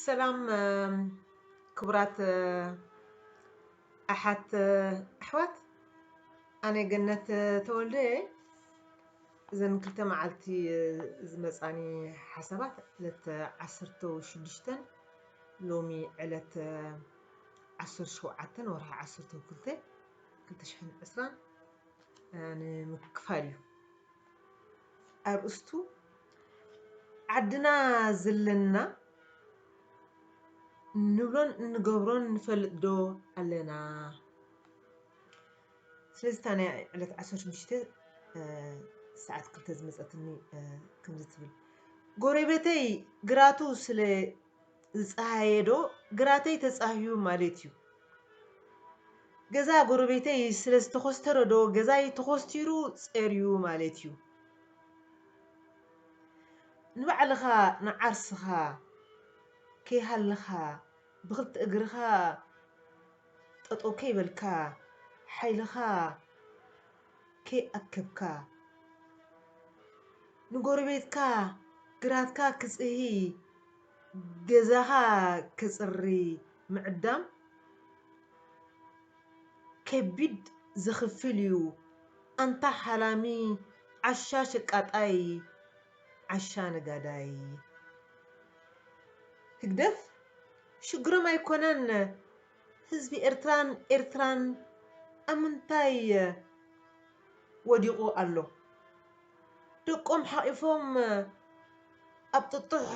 ሰላም ክቡራት ኣሓት ኣሕዋት ኣነ ገነት ተወልደ እየ እዘን ክልተ መዓልቲ ዝመፃኒ ሓሳባት ዕለት ዓሰርተ ሽዱሽተን ሎሚ ዕለት ዓሰርተ ሸውዓተን ወርሒ ዓሰርተ ክልተ ክልተ ሽሕን ዕስራን ንምክፋል እዩ ኣርእስቱ ዓድና ዘለና እንብሎን እንገብሮን ንፈልጥ ዶ ኣለና? ስለዚ እታ ናይ ዕለት ዓሰርተ ሽዱሽተ ሰዓት ክልተ ዝመፀትኒ ከምዚ ትብል ጎሬቤተይ ግራቱ ስለ ዝጸሃየ ዶ ግራተይ ተጻህዩ ማሌት ዩ። ገዛ ጎረቤተይ ስለ ዝተኾስተረ ዶ ገዛይ ተኾስቲሩ ጸርዩ ማሌት ዩ። ንባዕልኻ ንዓርስኻ ከይሃለኻ ብኽልተ እግርኻ ጠጠው ከይበልካ ሓይልኻ ከይኣከብካ ንጎረቤትካ ግራትካ ክጽሂ ገዛኻ ከጽሪ ምዕዳም ከቢድ ዘኽፍል ዩ ኣንታ ሓላሚ ዓሻ ሸቃጣይ ዓሻ ነጋዳይ። ህግደፍ ሽግሮም ኣይኮነን ህዝቢ ኤርትራን ኤርትራን ኣብ ምንታይ ወዲቑ ኣሎ? ደቆም ሓቒፎም ኣብ ጥጡሕ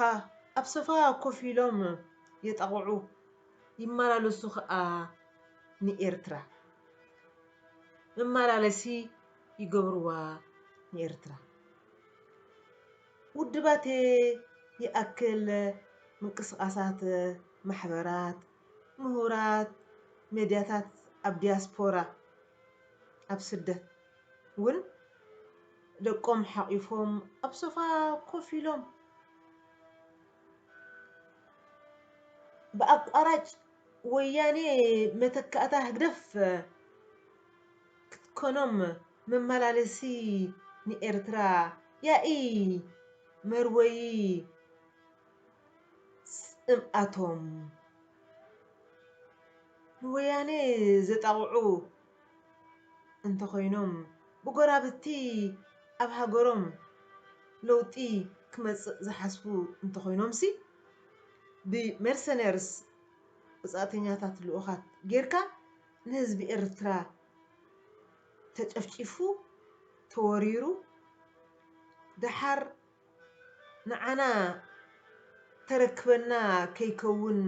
ኣብ ሶፋ ኮፍ ኢሎም የጣቕዑ ይመላለሱ ከኣ ንኤርትራ። መመላለሲ ይገብርዋ ንኤርትራ። ውድባት'የ ይኣክል ምንቅስቓሳት ማሕበራት፣ ምሁራት ሜድያታት ኣብ ዲያስፖራ፣ ኣብ ስደት፣ ውን ደቆም ሓቚፎም ኣብ ሶፋ ኮፍ ኢሎም ብኣቋራጭ ወያኔ መተካእታ ህግደፍ ክትኮኖም መመላለሲ ንኤርትራ ያኢ መርወዪ ጽምኣቶም ንወያኔ ዘጣቕዑ እንተኾይኖም ብጎራብቲ ኣብ ሃገሮም ለውጢ ክመጽእ ዝሓስቡ እንተኾይኖምሲ ብመርሰነርስ፣ ወጻእተኛታት ልኡኻት፣ ጌርካ ንህዝቢ ኤርትራ ተጨፍጪፉ ተወሪሩ ደሓር ንዓና ተረክበና ከይከውን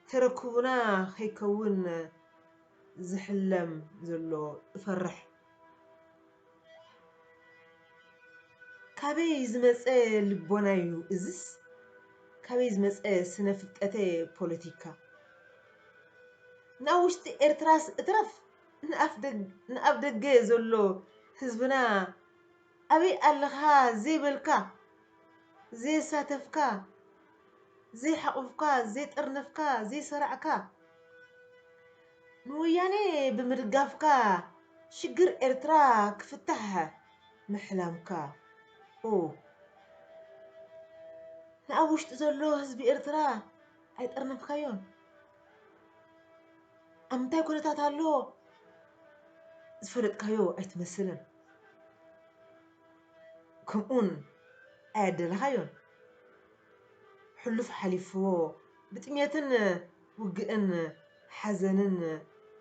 ተረኩቡና ከይከውን ዝሕለም ዘሎ እፈርሕ ካበይ ዝመጸ ልቦናዩ እዝስ ካበይ ዝመጸ ስነ ፍልጠተ ፖለቲካ ናብውሽጢ ኤርትራስ እትረፍ ንኣፍደገ ዘሎ ህዝብና ኣበይ ኣለኻ ዘይበልካ ዘየሳተፍካ ዘይሓቑፍካ ዘይጠርነፍካ ዘይሰራዕካ ንወያኔ ብምድጋፍካ ሽግር ኤርትራ ክፍታሕ ምሕላምካ ኡፍ ንኣብ ውሽጢ ዘሎ ህዝቢ ኤርትራ ኣይጠርነፍካዮን ኣብ ምንታይ ኩነታት ኣሎ ዝፈለጥካዮ ኣይትመስልን። ከምኡውን ኣያደለኻዮን። ሕሉፍ ሓሊፍዎ ብጥሜትን ውግእን ሓዘንን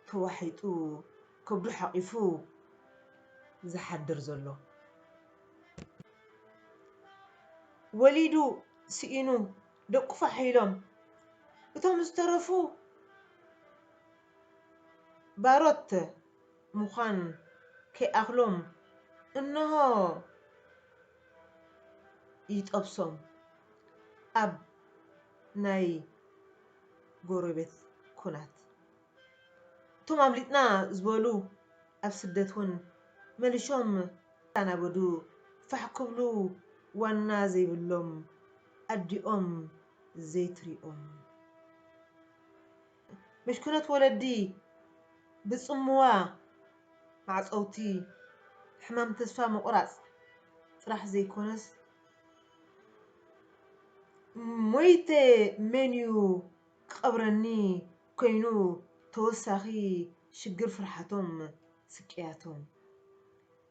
ተዋሒጡ ከብዱ ሓቒፉ ዝሓድር ዘሎ። ወሊዱ ስኢኑ ደቁ ፋሕ ኢሎም እቶም ዝተረፉ ባሮት፣ ምዃን ከይኣኽሎም እንሆ ይጠብሶም ኣብ ናይ ጎረቤት ኩናት። እቶም ኣምሊጥና ዝበሉ ኣብ ስደት ውን መልሾም ክሳናበዱ ፋሕ ክብሉ ዋና ዘይብሎም ኣዲኦም ዘይትሪኦም። ምሽክኖት ወለዲ ብጽምዋ ማዕጸውቲ ሕማም ተስፋ ምቑራጽ ጥራሕ ዘይኮነስ ሞይተ መንዩ ክቐብረኒ ኮይኑ ተወሳኺ ሽግር ፍርሓቶም ስቅያቶም።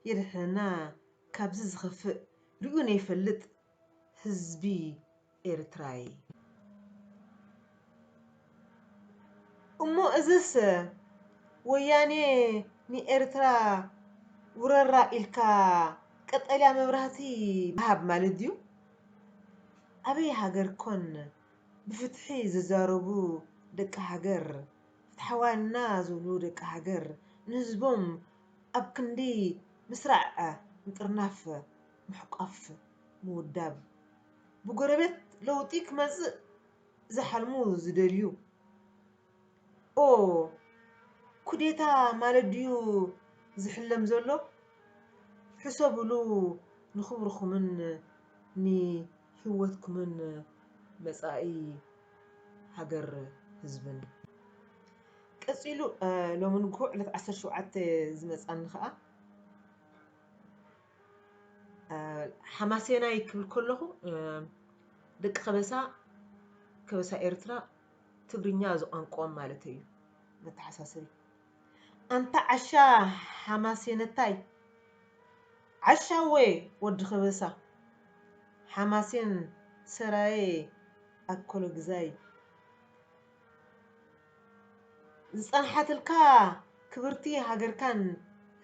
የድሕነና ካብዚ ዝኸፍእ ሪኡ ነይፈልጥ ህዝቢ ኤርትራ'የ። እሞ እዝስ ወያኔ ንኤርትራ ውረራ ኢልካ ቀጠልያ መብራህቲ ምሃብ ማለት ድዩ? ኣበይ ሃገር ኮን ብፍትሒ ዝዛረቡ ደቂ ሃገር፣ ፍትሓውያን'ና ዝብሉ ደቂ ሃገር ንህዝቦም ኣብ ክንዲ ምስራዕ ምጥርናፍ ምሕቋፍ ምውዳብ። ብጎረቤት ለውጢ ክመጽእ ዝሓልሙ ዝደልዩ ኦ ኩዴታ ማለት ድዩ ዝሕለም ዘሎ ሕሰብሉ ንኽብርኹምን ንሂወትኩምን መጻኢ ሃገር ህዝብን። ቀጺሉ ሎሚ ንግሆ ዕለት ዓሰርተ ሸውዓተ ዝመጻኒ ከኣ ሓማሴናይ ክብል ከለኹ ደቂ ከበሳ ከበሳ ኤርትራ ትግርኛ እዚ ቋንቋኦም ማለት እዩ መተሓሳሰቢ ኣንታ ዓሻ ሓማሴነታይ ዓሻ ወይ ወዲ ከበሳ ሓማሴን ሰራየ ኣኮሎ ግዛይ ዝጸንሓትልካ ክብርቲ ሃገርካን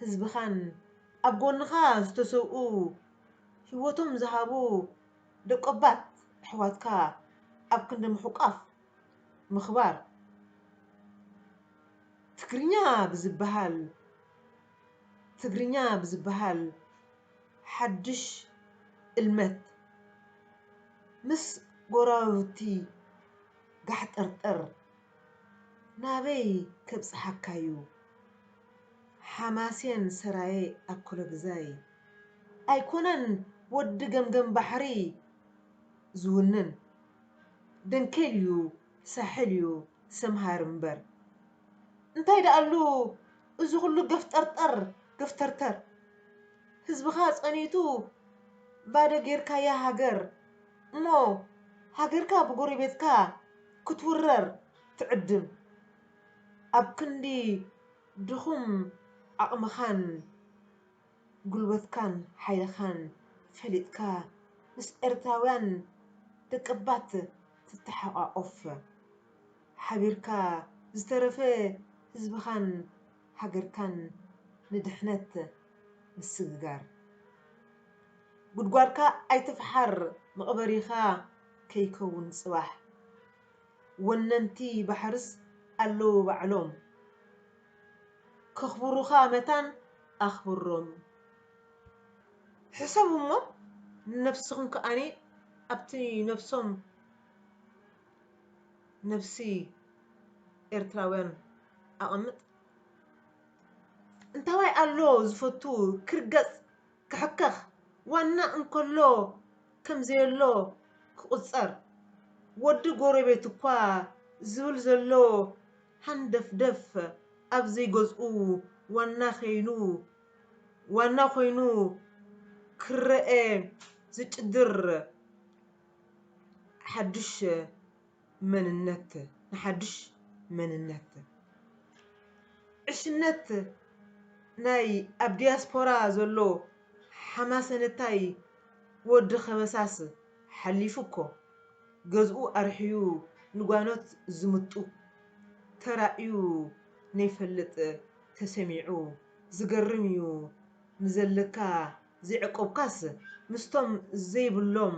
ህዝብኻን ኣብ ጎንኻ ዝተሰውኡ ሂወቶም ዝሃቡ ደቆባት ኣሕዋትካ ኣብ ክንዲ ምሕቋፍ ምኽባር ትግርኛ ብዝበሃል ትግርኛ ብዝበሃል ሓዱሽ እልመት ምስ ጎረባብቲ ጋሕጥርጥር ናበይ ከብጽሓካዩ ሓማሴን ሰራየ ኣኮሎግዛይ ኣይኮነን ወዲ ገምገም ባሕሪ ዝውንን ደንኬል ዩ ሳሕል ዩ ሰምሃር እምበር እንታይ ደኣሉ እዚ ኩሉ ገፍጠርጠር ገፍተርተር ህዝብኻ ጸኒቱ ባዶ ጌርካያ ሃገር እሞ ሃገርካ ብጎሬቤትካ ክትውረር ትዕድም ኣብ ክንዲ ድኹም ዓቕምኻን ጉልበትካን ሓይልኻን ፈሊጥካ ምስ ኤርትራውያን ደቀባት ትተሓቛቖፍ ሓቢርካ ዝተረፈ ህዝብኻን ሃገርካን ንድሕነት ምስግጋር ጉድጓድካ ኣይትፍሓር መቕበሪኻ ከይከውን ጽባሕ ወነንቲ ባሕርስ ኣለዉ ባዕሎም ከኽብሩኻ መታን ኣኽብሮም ሕሰቡ እሞ ንነብስኹም ከኣ ኣብቲ ነብሶም ነብሲ ኤርትራውያን ኣቐምጥ። እንታዋይ ኣሎ ዝፈቱ ክርገጽ ክሕከኽ ዋና እንከሎ ከም ዘየሎ ክቑጸር ወዲ ጎረቤቱ'ኳ ዝብል ዘሎ ሃንደፍደፍ ኣብ ዘይገዝኡ ዋና ከይኑ ዋና ኮይኑ ክረኣ ዝጭድር ሓዱሽ መንነት ንሓዱሽ መንነት ዕሽነት ናይ ኣብ ዲያስፖራ ዘሎ ሓማሰነታይ ወዲ ከበሳስ ሓሊፉ እኮ ገዝኡ ኣርሕዩ ንጓኖት ዝምጡ ተራእዩ ነይፈልጥ ተሰሚዑ ዝገርም እዩ ንዘለካ ዘየዕቆብካስ ምስቶም ዘይብሎም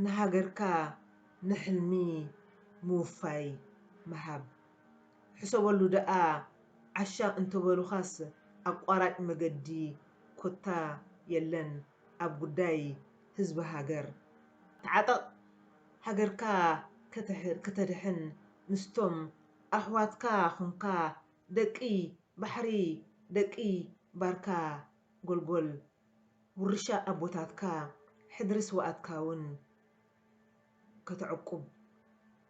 ንሃገርካ ንሕልሚ ምውፋይ ምሃብ ሕሰበሉ ደኣ ዓሻ እንተበሉኻስ ኣቋራጭ መገዲ ኮታ የለን ኣብ ጉዳይ ህዝቢ ሃገር ተዓጠቕ ሃገርካ ከተድሕን ምስቶም ኣሕዋትካ ኹንካ ደቂ ባሕሪ ደቂ ባርካ ጎልጎል ውርሻ ኣቦታትካ ሕድሪ ስውኣትካ ውን ከተዕቁብ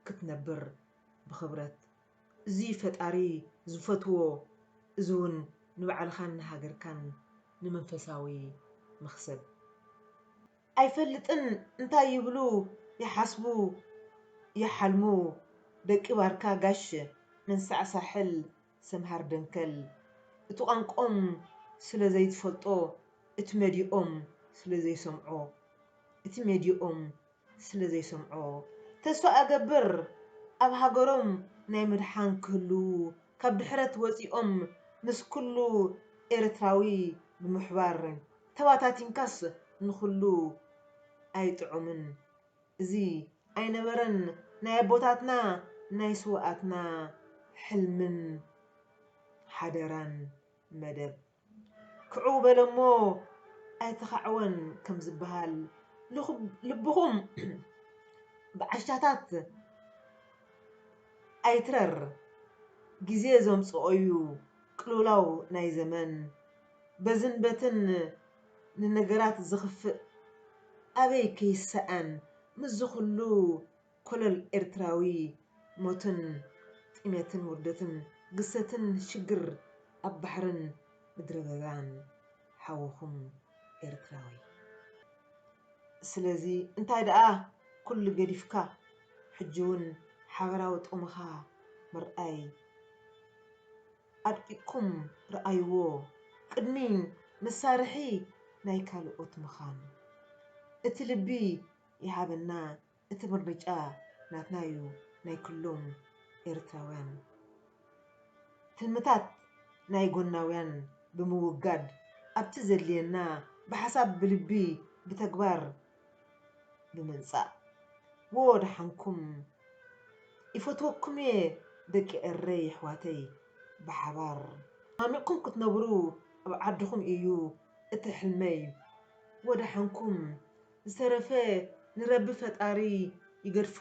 ክትነብር ብኽብረት እዙይ ፈጣሪ ዝፈትዎ እዚ ውን ንባዕልኻን ንሃገርካን ንመንፈሳዊ መኽሰብ ኣይፈልጥን እንታይ ይብሉ ይሓስቡ ይሓልሙ ደቂ ባርካ ጋሽ መንሳዕ ሳሕል ሰምሃር ደንከል እቲ ቋንቆኦም ስለ ዘይትፈልጦ እቲ መዲኦም ስለ ዘይሰምዖ እቲ ሜድየኦም ስለ ዘይሰምዖ ተስፋ እገብር ኣብ ሃገሮም ናይ ምድሓን ክህልው ካብ ድሕረት ወጺኦም ምስ ኩሉ ኤረትራዊ ብምሕባር ተባታቲንካስ ንኹሉ ኣይጥዑምን። እዚ ኣይነበረን ናይ ኣቦታትና ናይ ስውኣትና ሕልምን ሓደራን መደብ ክዕው በለ እሞ ኣይተኻዕወን ከም ዝበሃል ልብኹም ብዓሻታት ኣይትረር ግዜ ዘምጽኦዩ ቅልውላው ናይ ዘመን በዝን በትን ንነገራት ዝኽፍእ ኣበይ ከይሰኣን ምስዚ ኩሉ ኮለል ኤርትራዊ ሞትን ጥሜትን ውርደትን ግሰትን ሽግር ኣብ ባሕርን ምድረበዳን ሓውኹም ኤርትራዊ ስለዚ እንታይ ደኣ ኩሉ ገዲፍካ ሕጂውን ሓበራዊ ጥቕምኻ ምርኣይ ኣድቂቕኩም ርኣይዎ ቅድሚ መሳርሒ ናይ ካልኦት ምኻን። እቲ ልቢ ይሃበና እቲ ምርጫ ናትና ዩ ናይ ክሎም ኤርትራውያን ትልምታት ናይ ጎናውያን ብምውጋድ ኣብቲ ዘድልየና ብሓሳብ ብልቢ ብተግባር ብምምጻእ ዎ ደሓንኩም ይፈትወኩምየ ደቂ ኤረይ የሕዋተይ ብሓባር ማሚቅኩም ክትነብሩ ኣብ ዓድኩም ኢዩ እቲ ሕልመይ ዎ ደሓንኩም ዝተረፈ ንረቢ ፈጣሪ ይገድፎ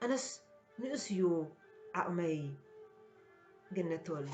ኣነስ ንኡስ ኢዩ ዓቅመይ ገነት ተወልደ።